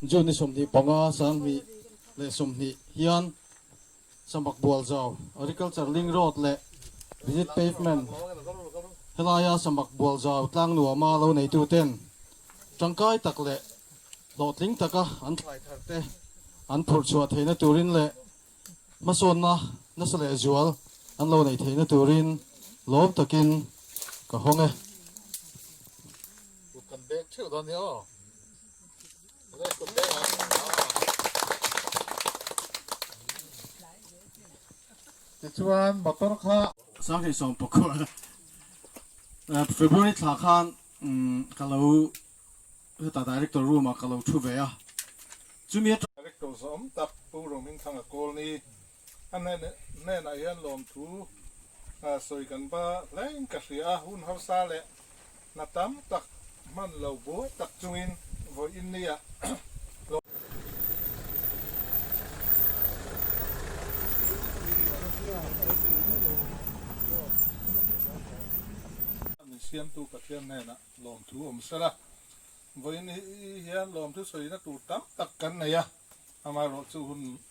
June-i sawmhnih panga sanghnih leh sawmhnih hian Samak Bualzau Agriculture Link Road leh Visit Pavement helaia Samak Bualzau tlang nuama lo neituten tangkai tak leh hlawhtling taka an tlaihtarte an phurh chhuah theihna turin leh hmasawnna nasa leh zual an lo nei theihna turin lawm takin ka hawng e. Tichuan motor kha. Sang thei sawm pawh khuh ala February thla khan ka lo heta director room ah ka lo thu ve a chumi atang. Director zawm tak pu Rawngmin Thlanga Kawlni A hnenah hian lawmthu sawi kan ba hlein ka hria a, hun harsa leh hna tam tak hman lo buai tak chungin vawi in ni a. Min siamtu Pathian hnenah lawmthu awm sel a, vawi in ni hian lawmthu sawina tur tam tak kan nei a, amaherawhchu hun